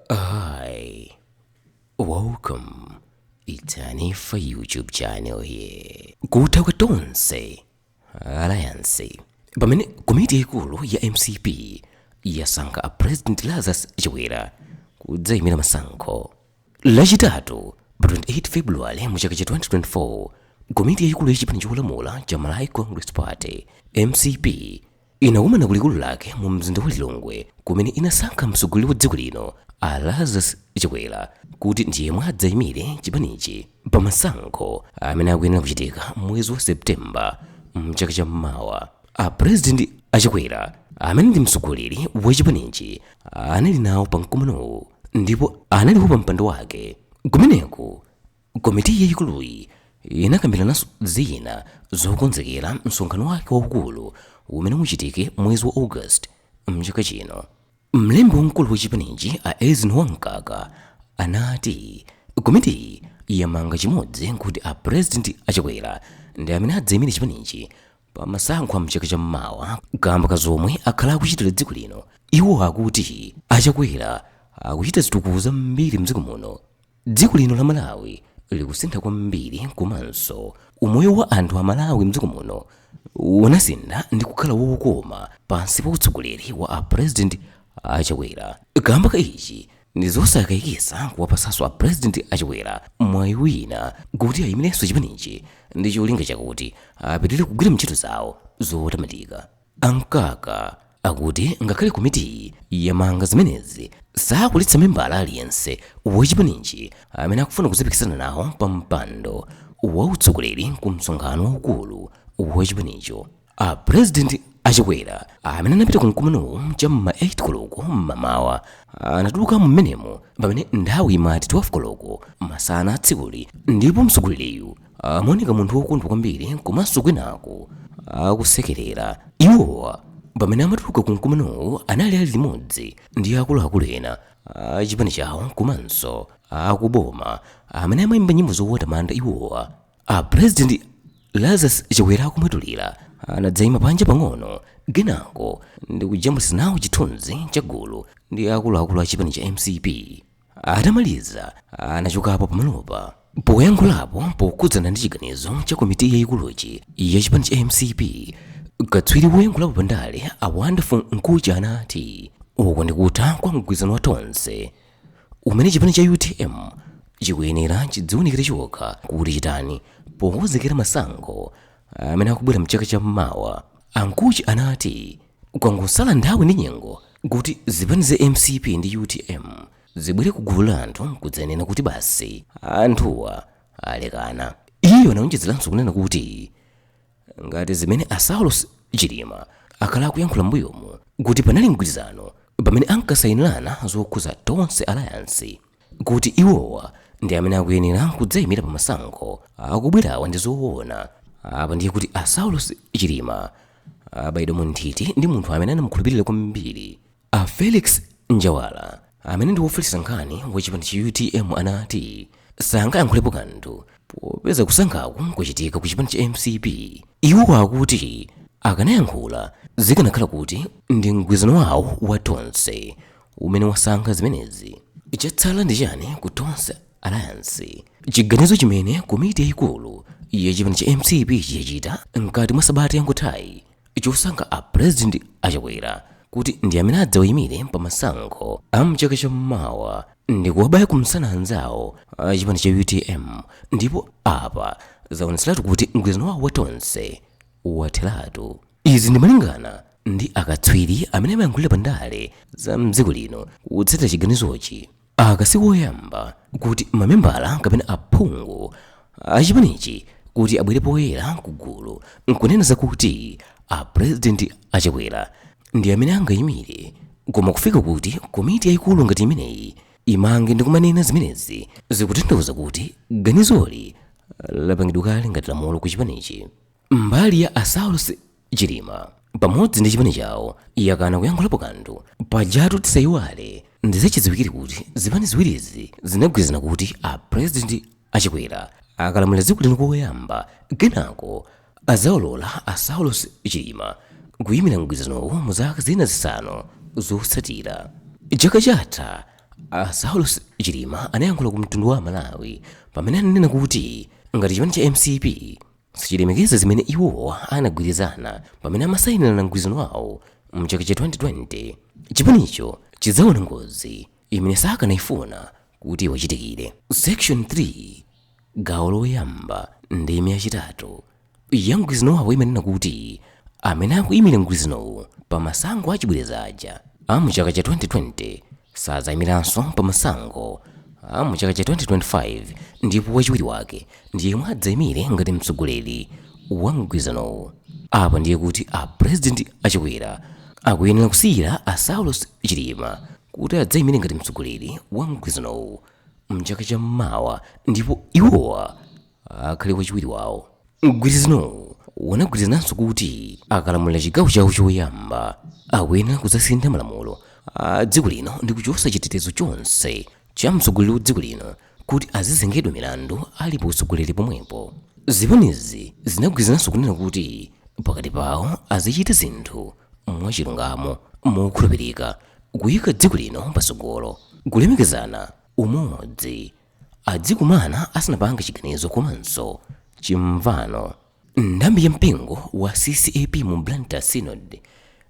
Hi, welcome. It's Anifa YouTube channel here. Kutha kwa tonse Alliance pamene komiti yaikulu ya MCP yasankha a President Lazarus Chakwera kudzayimira masankho lachitatu pa 28 February mu chaka cha 2024 komiti yaikulu ya chipani cholamula cha Malawi Congress Party MCP inakumana kulikulu lake mu mzinda wa Lilongwe kumene inasankha mtsogoleri wa dziko lino a Lazarus Chakwera kuti ndiyemwe adzayimire chipanichi pa masankho amene akuyenera kuchitika mwezi wa Septemba mchaka cha mmawa. A president a Chakwera amene ndi mtsogoleri wa chipanichi anali nawo pa mkumanowu ndipo analipo pa mpando wake kumeneku Komiti yayikuluyi inakambirananso zina zokonzekera msonkhano wake waukulu umene uchitike mwezi wa August mchaka chino. Mlembi wamkulu wa chipanichi a Eisenhower Mkaka anati komitiyi yamanga chimodzi nkuti a President a Chakwera ndi amene adzayimire chipanichi pa masankho a mchaka cha mmawa kaamba ka zomwe akhala akuchitira dziko lino. Iwo akuti a Chakwera akuchita zitukuko zambiri mdziko muno. Dziko lino la Malawi likusintha kwambiri komanso umoyo wa anthu a Malawi mdziko muno unasintha ndikukhala wokoma pansi pa utsogoleri wa a President a Chakwera. Kamba ka ichi, ndizosakayikisa kuwapasaso a President a Chakwera mwayi wina kuti ayimileso chipanichi ndicholinga chakuti apitilire kugwira mtchito zawo zotamandika. A Mkaka akuti ngakhale komitiyi yamanga zimenezi, sakuletsa membala aliyense wa chipanichi amene akufuna kudzapikisana nawo pa mpando wa utsogoleri ku msonkhano waukulu wa chipanicho. A Pulezidenti a Chakwera amene anapita ku mkumanowu cha m'ma 8 koloko m'mamawa, anatulukamo m'menemo pamene nthawi imati 12 koloko masana a tsikuli ndipo mtsogoleriyu amaoneka munthu wokondwa kwambiri komanso kwinaku akusekerera iwowa pamene amatuluka ku mkumanowu anali ali limodzi ndi akuluakulu ena a chipani chawo komanso akuboma amene amayimba nyimbo zowatamanda iwowa a president lazarus chakwera akumwetulira anadzayima panja pang'ono kenako ndi kujambulitsa nawo chithunzi cha gulu ndi akuluakulu a chipani cha mcp atamaliza anachokapo pamalopa poyankhulapo pokhudzana ndi chiganizo cha komiti yayikuluchi ya chipani cha mcp katswiri woyankhulapo pa ndale a wonderful mkhutche anati uku ndikutha kwa mgwirizano wa tonse umene chipani cha utm chikuyenera chidziwunikire chokha kuti chitani pokonzekera masankho amene akubwera mchaka cha mmawa a mkhutche anati Kwangosala nthawi ndi nyengo kuti zipani za mcp ndi utm zibwere ku gulu la anthu nkudzanena kuti basi anthuwa alekana. Iye anaonjezeranso kunena kuti ngati zimene a Saulos Chilima akhala akuyankhula m'mbuyomu kuti panali mgwirizano pamene ankasayinirana zokhuza Tonse Alliance. kuti iwowa ndi amene akuyenera kudzaimira pa masankho akubwerawa ndi zoona apa ndiye kuti a saulos chilima abayidwa mu nthiti ndi munthu amene anamukhulupirira kwambiri a felix njawala amene ndi wofalitsa nkhani wa chipani cha utm anati sangayankhulepo kanthu popeza kusankhaku kwachitika ku chipani cha mcp iwo akuti akanayankhula zikanakhala kuti ndi mgwirizano wawo wa tonse umene wasankha zimenezi chatsala ndi chani ku tonse alliance chiganizo chimene komiti yayikulu ya chipani cha mcp chachita mkati mwa sabata yangothayi chosankha a president a Chakwera kuti ndi amene adzawayimire pa masankho a mchaka cha mmawa ndi kuwabaya kumsana anzawo a chipani cha utm ndipo apa zaonetseratu kuti mgwirizano wawo wa tonse watheratu Izi ndi malingana ndi akatswiri amene amayankhulira pa ndale za mdziko lino kutsatira chiganizochi. Aka si koyamba kuti mamembala kapena aphungu a chipanichi kuti abwere poyera ku gulu nkunena zakuti a President a Chakwera ndi amene angayimire koma kufika kuti komiti yayikulu ngati imeneyi imange ndi kumanena zimenezi zikutanthauza kuti ganizoli lapangidwa kale ngati lamulo ku chipanichi. Mbali ya a Saulos Chilima pamodzi ndi chipani chawo yakana kuyankhulapo kanthu paja tu tisayiwale ndi zachidziwikire kuti zipani ziwirizi zinagwirizana kuti a president a Chakwera akalamulira dziko lino koyamba kenako azawalola a Saulos Chilima kuyimira mgwirizanowo mu zaka zina zisanu zotsatira chaka chatha a Saulos Chilima anayankhula ku mtundu wa aMalawi pamene ananena kuti ngati chipani cha mcp sichilemekeza zimene iwo anagwirizana pamene amasainirana mgwirizano wawo mchaka cha 2020 chipanicho chidzaona ngozi imene sakanayifuna kuti iwachitikire section 3 gawo loyamba ndime yachitatu ya mgwirizano wawo imanena kuti amene akuyimira mgwirizanowu pa masankho achibwereza aja a mchaka cha 2020 sadzayimiranso pa masankho a mu chaka cha 2025 ndipo wachiwiri wake ndi yemwe adzayimire ngati mtsogoleri wa mgwirizanowu apa ndiye kuti a president a Chakwera akuyenera kusiyira a saulos chilima kuti adzayimire ngati mtsogoleri wa mgwirizanowu mchaka cha mmawa ndipo iwowa akhale wachiwiri wawo mgwirizanowu unagwirizananso kuti akalamulira chigawo chawo choyamba akuyenera kudzasintha malamulo a dziko lino ndi kuchotsa chitetezo chonse cha mtsogoleri wa dziko lino kuti azizengedwa milandu ali pa utsogoleri pomwepo zipanizi zinagwirizananso kunena kuti pakati pawo azichita zinthu mwachilungamo mokhulupirika kuyika dziko lino patsogolo kulemekezana umodzi adzikumana asanapange chiganizo komanso chimvano nthambi ya mpingo wa ccap mu blantyre synod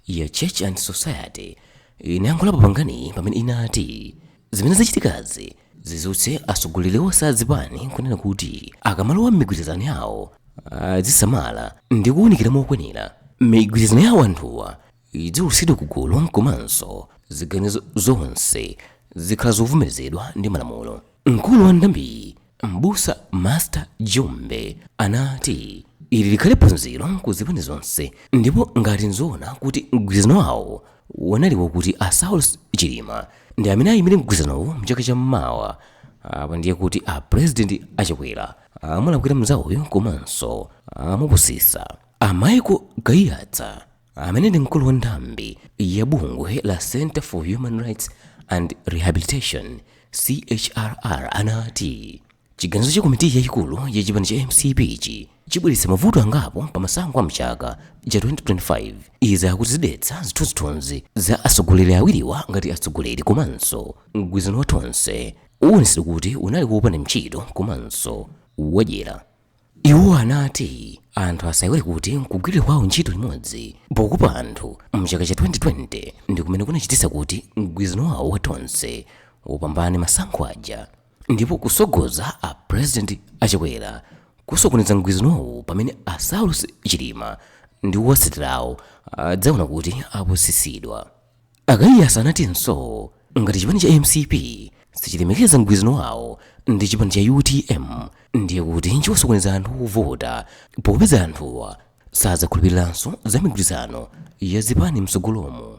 ya church and society inayankhulapo panganiyi pamene inati zimene zachitikazi zidzutse atsogoleri onse a zipani kunena kuti akamalowa m'migwirizano yawo azisamala ndi kuwunikira mokwanira migwirizano yawo anthuwa idziwulutsidwa ku gulu komanso ziganizo zonse zikhale zovomerezedwa ndi malamulo mkulu wa nthambiyi m'busa master jumbe anati ili likhale phunziro ku zipani zonse ndipo ngati nzoona kuti mgwirizano wawo unali wakuti a saulos chilima ndi amene ayimire mgwirizanowu mchaka cha mmawa apa ndiye kuti a purezidenti a chakwera amulakwira mzawoyo komanso amupusisa a michael kaiyatsa amene ndi mkulu wa nthambi ya bungwe la center for human rights and rehabilitation chrr anati chiganizo cha komiti yayikulu ya chipani cha mcp-chi chibweretsa mavuto angapo pa masankho a mchaka cha 2025 izi akuti zidetsa zithunzithunzi za atsogoleri awiriwa ngati atsogoleri komanso mgwirizano wa tonse uwonetsedwa kuti unali wopanda ntchito komanso wadyera Iwo anati anthu asayiwale kuti kugwirira kwawo ntchito limodzi pokopa anthu mchaka cha 2020 ndi kumene kunachititsa kuti mgwirizano wawo wa Tonse upambane masankho aja ndipo kutsogoza a President a Chakwera kusokoneza mgwirizanowu pamene a Saulos Chilima ndi owatsatira awo adzaona kuti apusitsidwa. a kaiyatsa anatinso ngati chipani cha mcp sichilemekeza mgwirizano wawo ndi chipani cha utm ndiye kuti chiwasokoneza anthu ovota popeza anthuwa sadzakhulupiriranso za migwirizano ya zipani mtsogolomu